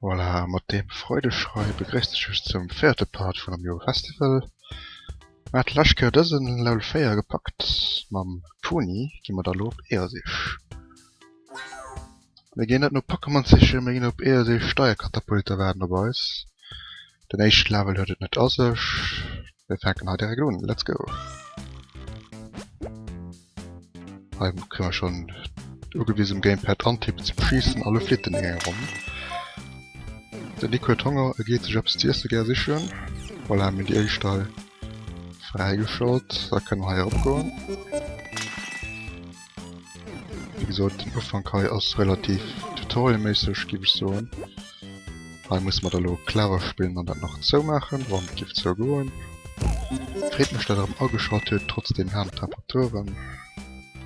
Voilà, mat deem Freudeschrei begréisst ech iech zum véierte Part vun Am Eurofestival. Mer hate lescht Kéier dësen Level 4 gepackt, mam Toni gi mer da elo op Eelsich. Mir ginn net no Pokémon sichen, mir ginn op Eelsich, Steierkatapulter waarden op eis. Den éischten Level huet et net a sech. Mir fänken hei direkt un. Let's go! Hei kréie mer schonn ugewisen um Gamepad antippen ze beschiessen a lo flitt en an enger Ronn. Den Nico huet Honger, e geet sech eppes z'iesse gär sichen. Voilà, mir hunn déi éischt hei fräigeschalt. Da kënne mer hei erop goen. Wéi gesot den Ufank hei ass relativ tutorialméisseg giff ech soen. Hei musse mer da lo clever spillen an dat nach zoumaachen wann et giff zougoen. Freet mech dat der erem ageschalt huet trotz den haarden Temperaturen.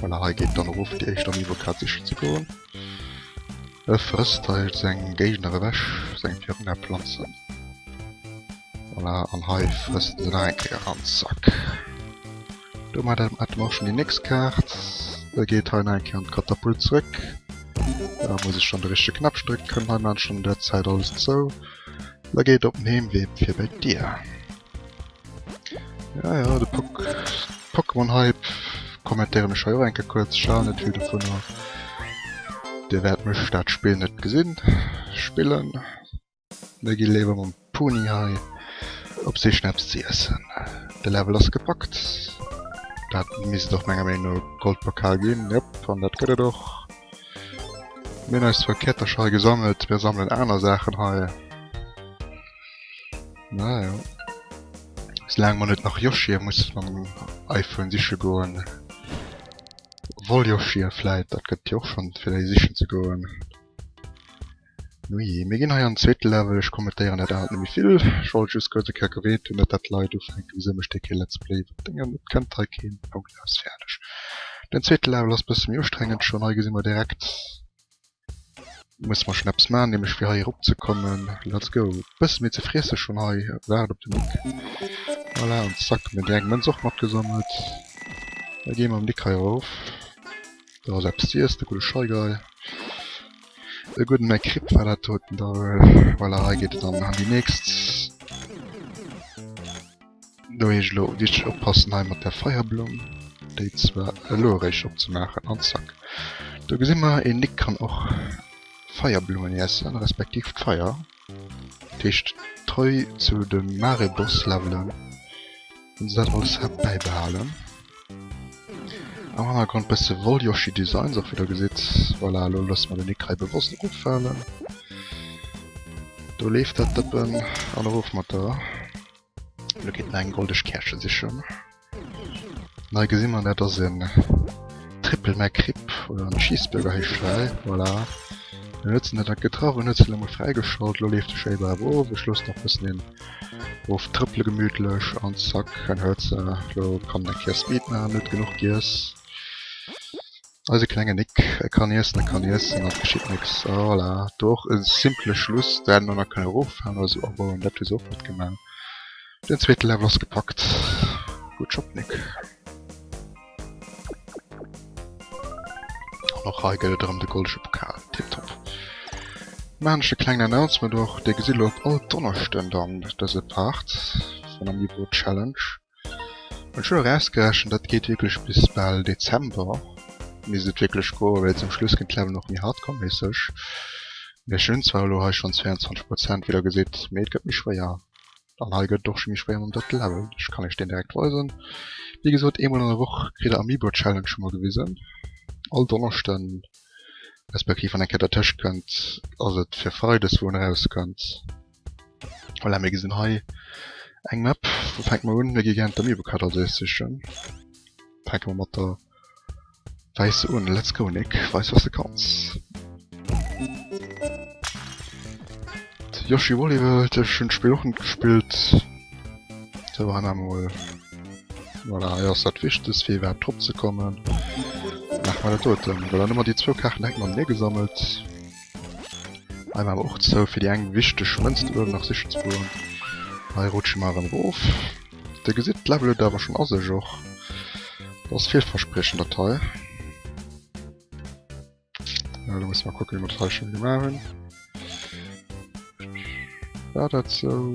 Voilà hei geet dann erof déi éischt am Niveau grad sichen ze goen. E frësst heilt seng Géigner ewech, seng Virgänger planzen. Voilà, an hei frësst en nach eng Kéier Randzack. Domat hätte mer och schon déi nächst Kaart. E geet hei nach eng Kéier an d'Katapult zrëck. Da muss ech dann de richtege Knäppchen drécken, kënnt hei, maachen an där Zäit alles zou. E geet op den Heemwee fir bei d'Dier. Ja, ja, de Pokémon-Hype kommentéieren ech hei och enke kuerz. Schal net vill dovun a Dir wäert mech dat Spill net gesinn spillen. Mir gi léiwer mam Puni hei op Sich no eppes ze iessen. De Level ass gepackt. Dat misst och menger Meenung no e Goldpokal ginn. Jop, an dat gëtt et och. Mir hunn eis zwar Käertercher hei gesammelt, mir sammeln aner Saachen hei. Naja. Sou laang mer net nach Yoshi'e muss mam iPhone siche goen. Obwohl Yoshi'e vläit, dat gëtt jo och schonn, fir déi sichen ze goen. Nujee, mir ginn hei an den zweete Level. Ech kommentéieren dat aalt net méi vill. Ech wollt just kuerz e Kéier gewäert hunn, net dat d'Leit ufänken, wisou mécht dee kee Let's Play iwwer Déngen. Et kënnt hei keen. Punkt, aus, fäerdeg. Den zweete Level ass bësse méi ustrengend schonn. Hei gesi mer direkt. Muss mer schon eppes man nämlech fir hei erop ze kommen. Let's go. Bësse méi ze friesse schon hei. Waart op de Nick. Voilà an zack hun mer déi eng Mënz och mat gesammelt. Da gi mer mam Nick hei erof. Do ass eppes ze iessen, e gudde Scheigei. E gudden McRib war dat doten da. Voilà hei geet et dann an déi nächst. Do heescht elo wichteg oppassen hei mat der Feierblumm, déi zwar elo eréischt opzemaachen an zack. Do gesi mer, een Nick kann och Feierblummen iessen, respektiv d'Feier. Dat heescht treu zu de Mare-Boss-Levelen hunn se dat alles hei bäibehalen. Am Hannergrond bësse Wolljoshi-Designs och wéi der gesitt. Voilà, elo loosse mer den Nick hei bewosst eroffalen. Do leeft dat Dëppen an erof mat der. Lo geet mer eng goldeg Käerche sichen. Nei gesi mer dat ass en Triple McRib oder en Cheeseburger heescht well. Voilà. Mir nutzen dat dat getraff an huet se lo mol fräigeschalt. Lo leeft de Shaver awer of. Ech loosse nach bëssen een of trëppele gemütlech an zack, en huet se. Lo kann en eng Kéier Speed maachen, en huet genuch giess. Eise klenge Nick, e kann iessen, e kann iessen an et geschitt nix. A voilà, do och e simple Schluss, dat hätte mer nach kënne erofhalen oder esou abauen, dat hu se och net gemaach. Den zweete Level ass gepackt. Good job, Nick. An och hei gëtt et erëm de goldege Pokal. Tiptop. Maachen ech e klengen Announcement och, Dir gesitt elo op all Donneschden dann dëse Part vun der Miibo Challenge. Ech hunn erausgerechent, dat geet wierklech bis bal Dezember, misst et wierklech goen, well zum Schluss ginn d'Levelen och méi hardcore-méisseg. Mee ech hunn zwar elo hei schonn 22 Prozent, wéi der gesitt, mee et gëtt méi schwéier. An hei gëtt et och scho méi schwéier mam drëtte Level. Ech kann iech deen direkt weisen. Wéi gesot, eemol an der Woch kritt der Amiibo-Challenge emol gewisen. All Donneschden, respektiv wann eng Kéier dertëscht kënnt, ass et fir freides, wou en erauskënnt. Voilà, mir gesinn hei eng Map. Wou fänke mer un? Mir gi gären d'Amiibo-Kader do ees sichen. Fänke mer mat der wäisser un. Let's go, Nick, weis wat s de kanns! Yoshi Woolly World, ech hunn d'Spill och net gespillt. Sou, hei maache mer mol. Voilà, hei ass dat Wichtegst, fir iwwerhaapt dropzekommen. Maache mer dat doten. Voilà, elo hunn mer déi zwou Kaarten hei mat neegesammelt. Hei man awer och zou fir déi eng wichteg Mënz do uewen nach sichen ze goen. Hei rutsche mer erëm erof. Dir gesitt d'Level huet awer schonn a sech och. Dat ass villverspriechend dat hei. Lo musse mer kucke wéi mer dat hei schonn gemaach hunn. War dat sou?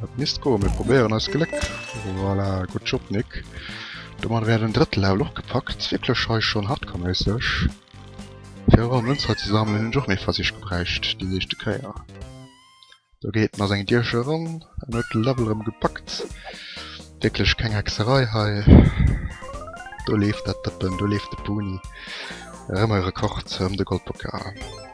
Dat misst go mir probéieren als Gléck. Voilà, gut Job Nick. Domat wär den drëtt Level och gepackt. Wierklech schei schon hardcore-méisseg. Fir awer Münz hei ze sammeln hunn ech och méi Versich gebräicht déi éischte Kéier. Do geet en ass eng Dierche eran an huet de Level erëm gepackt. Wierklech keng Hexerei hei. Do leeft dat Dëppen, do leeft de Puni. Erëm e Rekord, erëm de Goldpokal.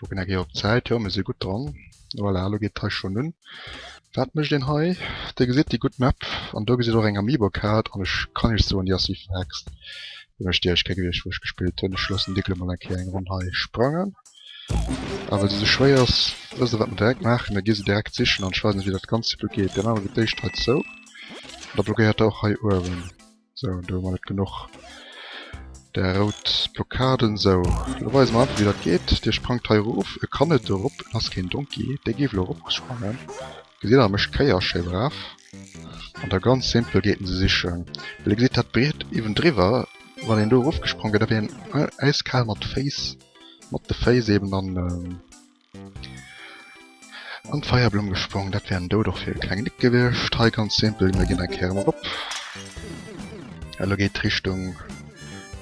Kucken eng Kéier op d'Zäit, jo mir si gutt dran. Voilà, elo geet d'Rees schonn un. Wat mécht een hei? Dir gesitt déi gutt Map an do gesitt och eng Amiibo-Kaart an ech kann iech soen, déi ass wéi verhext. Hunn ech déi eréischt Kéier gewiescht wou ech gespillt hunn. Ech loossen d'Igloo mol eng Kéier eng Ronn hei sprangen. A well se esou schwéier ass, wësst der wat mir direkt maachen, mir gi se direkt sichen an ech weisen iech wéi dat Ganzt elo geet. Dir maacht mol fir d'éischt hei zou an da blockéiert der och hei uewen. So, do hu mer net genuch der rout Blockaden. So, lo weise mer einfach wéi dat geet. Dee sprangt hei erof, e kann net erop, en ass keen Donkey. Dee géif elo eropsprangen. Gesitt der, e mécht Kéier, schéi brav. An da ganz simpel geet en se sichen. Well e gesitt dat Briet iwwendriwwer, wann een do erofgesprangen wier, da wier en äiskal mat Féiss, mat de Féiss eeben an. An d'Feierblumm gesprongen, dat wär en Doud och fir e klengen Nick gewiescht. Hei ganz simpel, mir ginn eng Kéier erëm op. Elo geet d'Richtung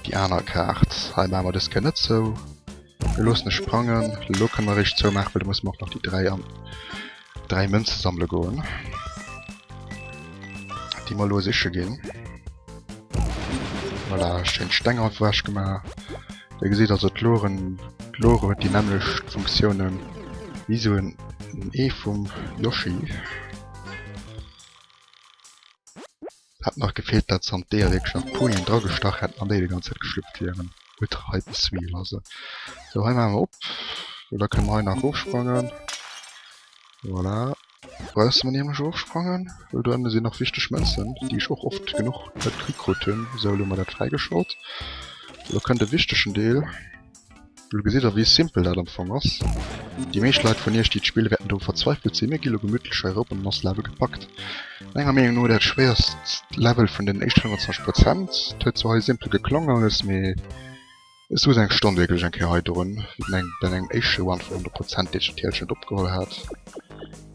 déi aner Kaart. Hei maache mer dës Kéier net zou. Mir loossen e sprangen. Elo kënne mer eréischt zoumaachen, well do musse mer och nach déi 3 an Dräi Mënze sammele goen. Déi mer lo siche ginn. Voilà, schéin Steng hei wech gemaach. Dir gesitt also d'Loren, d'Lore huet déi nämmlecht Funktiounen wéi sou en Ee vum Yoshi. Hat nach gefehlt dat se an d'Eeëleck Champoignen dra gestach hätten an déi de ganze Zäit geschlupft wieren. Gutt, hei de Sweet lassen. Sou, hei maache mer op. Sou, da kënne mer hei nach erofsprangen. Voilà. Bausse mer nämlech erofsprangen, well do ënne sinn nach wichteg Mënzen, déi ech och oft genuch net kritt krut hunn. Sou, elo hu mer dat fräigeschalt. Sou, da kënnt e wichtegen Deel. Lo gesitt der wéi simpel dat am Fong ass. Déi meescht Leit vun iech déi d'Spill wäerten do verzweifelt sinn, mir gi lo gemütlech hei erop an eis Level gepackt. Menger Meenung no dat schwéierst Level vun den éischten 25 Prozent. Et huet zwar hei simpel geklongen alles, mee ech souz eng Stonn wierklech eng Kéier hei drun, wéi den eng bei mengem éischte Run vun 100 Prozent deet Tielchen net opgeholl hat.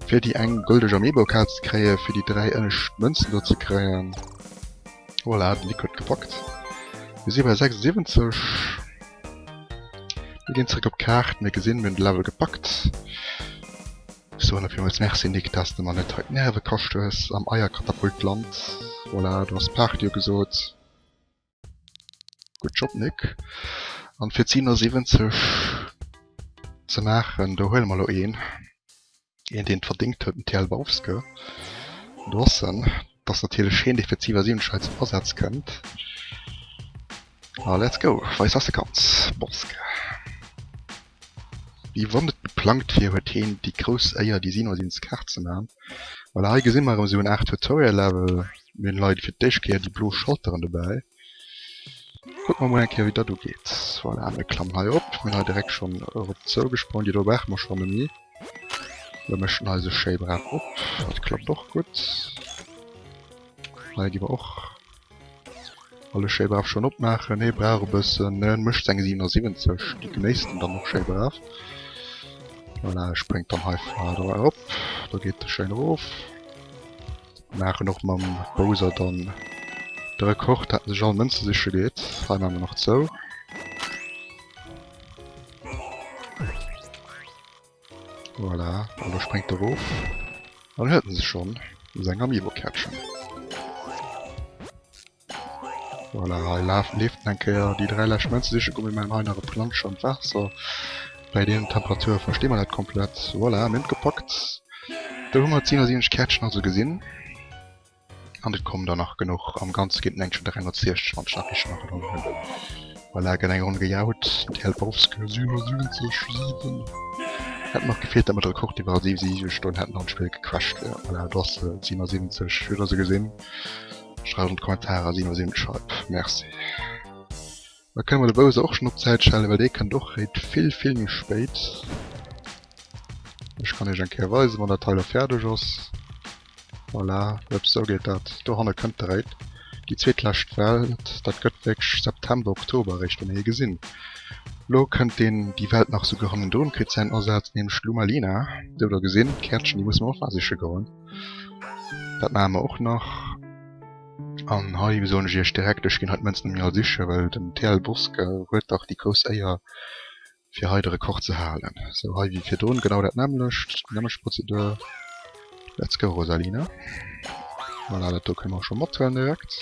Fir déi eng gëlldeg Amiibo-Kaart ze kréien, fir déi dräi ënnescht Mënzen do ze kréien. Voilà, den Nico huet gepackt. Mir si bei 76. Mir ginn zréck op d'Kaart, mir gesinn, mir hunn de Level gepackt. Ech soen der villmools Merci, Nick, dass de mer net hei d'Nerve kascht hues am Eierkatapultland. Voilà, du has Party ugesot. Gutt Job, Nick. An fir d'Siebenundsiebenzeg ze maachen, do huele mer elo een. Een deen et verdéngt huet, den TL Bauske Drossen, dat ass natierlech heen dee fir d'Siwwersiwwenzeg hei zum Asaz kënnt. A let's go, Weiss ass de Kaz Bauske. Wéi wann et geplangt wier huet heen déi grouss Éier déi Sino sinn Skart ze man. Voilà, hei gesi mer erëm esou en Aart Tutorial Level, mir hunn hei fir d'éischt Kéier déi blo Schalteren dobäi. Kucke mer mol eng Kéier wéi dat ugeet. Voilà, mir klammen hei op, mir hunn hei direkt schonn erop zou gesprongen, déi do brauche mer schonn nemmi. Mir mëschen eise schéi brav op. Dat klappt och gutt. Hei gi mer och alles schéi brav schonn opmaachen. Hee brauch e bëssen, en mécht seng 77, déi genéisst en dann och schéi brav. Voilà, ech bréngt dann hei d'Waasser erop, da geet e schéin erof. Maachen och mam Bowser dann de Rekord, dat en sech all Mënze siche geet. Hei maache mer nach zou. Voilà, an da spréngt e rof. An huet en sech schonn u seng Amiibo catchen. Voilà, hei laf, leeft en eng Kéier. Déi dräi lescht Mënze siche gu. Mir maachen hei nach e Plancher an d'Waasser. Bäi deenen Temperature versti mer dat komplett. Voilà, mir hunn et gepackt. Do hu mer 10 aus 7 Käertchen also gesinn. An et kommen der nach genuch. Am Ganze ginn et eng 360, wann ech nach richteg an Erënnerung hunn. Voilà, gëtt eng Ronn gejaut. TL Bowska 77 7. Hätt nach gefeelt, datt mer de Rekord iwwer 77 Stonnen hätten an d'Spill gecrashed wier. Voilà, do ass se, 77. Wëllt der se gesinn? Schreift an d'Kommentarer 77 Scheib. Merci. Da kënne mer de Bowser och schonn op Zäit stellen, well dee kënnt och réit vill, vill méi spéit. Ech kann iech eng Kéier weisen, wann dat hei da fäerdeg ass. Voilà, ups, esou geet dat. Dohanne kënnt de réit. Déi zweetlescht Welt, dat gëtt wierklech September, Oktober eréischt, wou mir hie gesinn. Elo kënnt deen, déi Welt nach esouguer hannendrun, kritt säin Asaz, nämlech d'Luma Lina. Dierft der gesinn, d'Käertchen, déi musse mer och nach siche goen. Dat maache mer och nach. An hei soen ech iech direkt, ech ginn hei d'Mënz net méi all siche well den TL Bourske huet dach déi grouss Éier fir hei de Rekord ze halen. Sou hei wéi virdrun genau dat nämmlecht, déi nämmlecht Prozedur. Let's go Rosalina. Voilà dat do kënne mer och scho mathuelen direkt.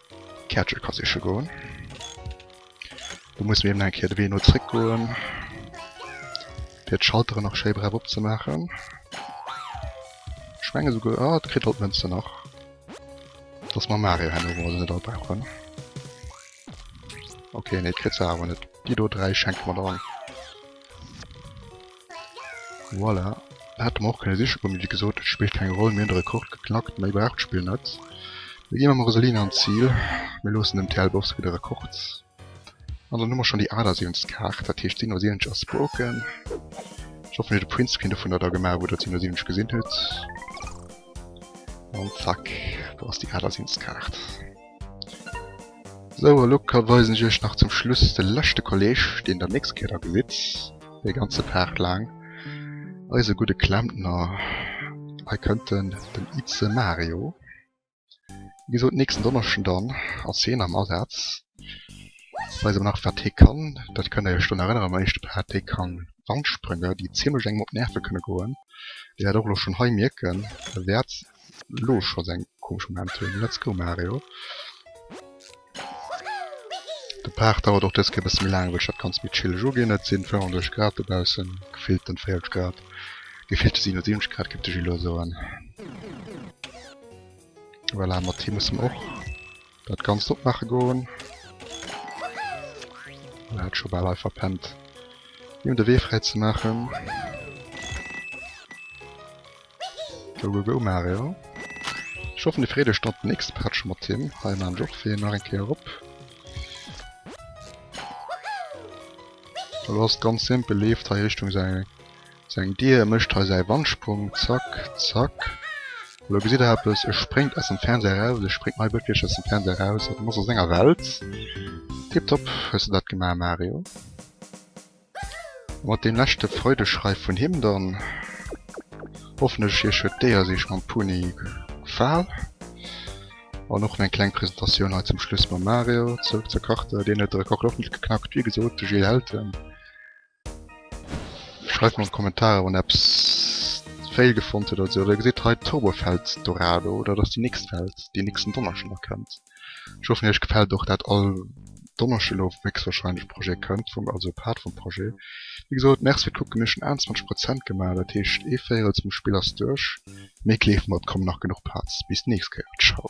D'Käertche ka siche goen. Do musse mir eben eng Kéier de Wee no zréck goen, fir d'Schaltere nach schéi braf opzemaachen. Ech menge souguer, ah, et kritt alt d'Mënzen nach, dass mer Mario herno emol net all brauchen. Ok, nee, kritt se awer net. Déi do dräi schenke mer der. Voilà, hätte mer och kënne siche goen, mee wéi gesot, et spillt keng Roll, mir hunn de Rekord geknackt, méi braucht d'Spill net. Mir ginn mam Rosalina an d'Zil, mir loossen dem TL Bowski de Rekord an dann hu mer schonn déi 78. Kaart, dat heescht 77 ass broken. Ech hoffen, huet e Printscreen dovunner da gemaach, wou der d'77 gesinn hutt. An zack, do ass déi 78. Kaart. Sou, a lo weisen ech iech nach zum Schluss de leschte Kolleg, deen der nächst Kéier da gesitt, dee ganze Paart laang, eise gudde Klempner. Hei kënnt en, den Ize Mario. Wéi gesot, nächsten Donneschden dann ass hien am Asaz. Ech weise nach, wat hie kann, dat kënnt der iech dann erënneren am éischte Paart. Hie ka Wandsprünge, déi zimmlech engem op d'Nerve kënne goen. Dir wäert och elo schonn hei mierken, e wäert lo scho seng komesch Moment hunn. Let's go Mario! De Part dauert och dës Kéier e bësse méi laang wëll ech dat ganzt méi chilleg uginn. Et sinn 35 Grad dobaussen, gefillten 40 Grad, gefillte 77 Grad géif de Gillo soen. Voilà mat him musse mer och Dat ganzt opmaache goen. Hien hat scho bal hei verpennt him de Wee fräi ze maachen. Go go go Mario. Ech hoffen Dir freet Iech dann op den nächste Patch mat him. Hei maachen ech och fir hien nach eng Kéier op. Elo ass et ganz simpel, leeft hei Richtung säi. Seng Dier mécht hei säi Wandsprong, zack, zack. Elo gesitt Der eppes, e spréngt aus dem Fernseher eraus, e spréngt hei wierklech aus dem Fernseher eraus an ass a senger Welt. Tiptop hues de dat gemaach, Mario. A mat deem leschte Freudeschrei vun him dann, hoffen ech, Iech huet d'Déiersich mam Puni gefal. An och meng kleng Presentatioun hei zum Schluss mam Mario. Zurück zur Karte, deen huet de Rekord och net geknackt, wéi gesot, de Gilles Elton. Schreift an Kommentarer wann eppes fail gefonnt huet oder sou, der gesitt hei Turbo Fels Dorado, dat ass déi nächst Fels déi nächsten Donneschden da kënnt. Ech hoffen iech gefällt och dat all Donneschden lo héchstwahrscheinlech Projet kënnt vum also Part vum Projet. Wéi gesot merci fir d'Kucken, mir hu schon 21 Prozent gemaach, dat heescht ee Véirels vum Spill ass duerch, mee kleeft mat, et kommen nach genuch Parts. Bis d'nächst Kéier, ciao.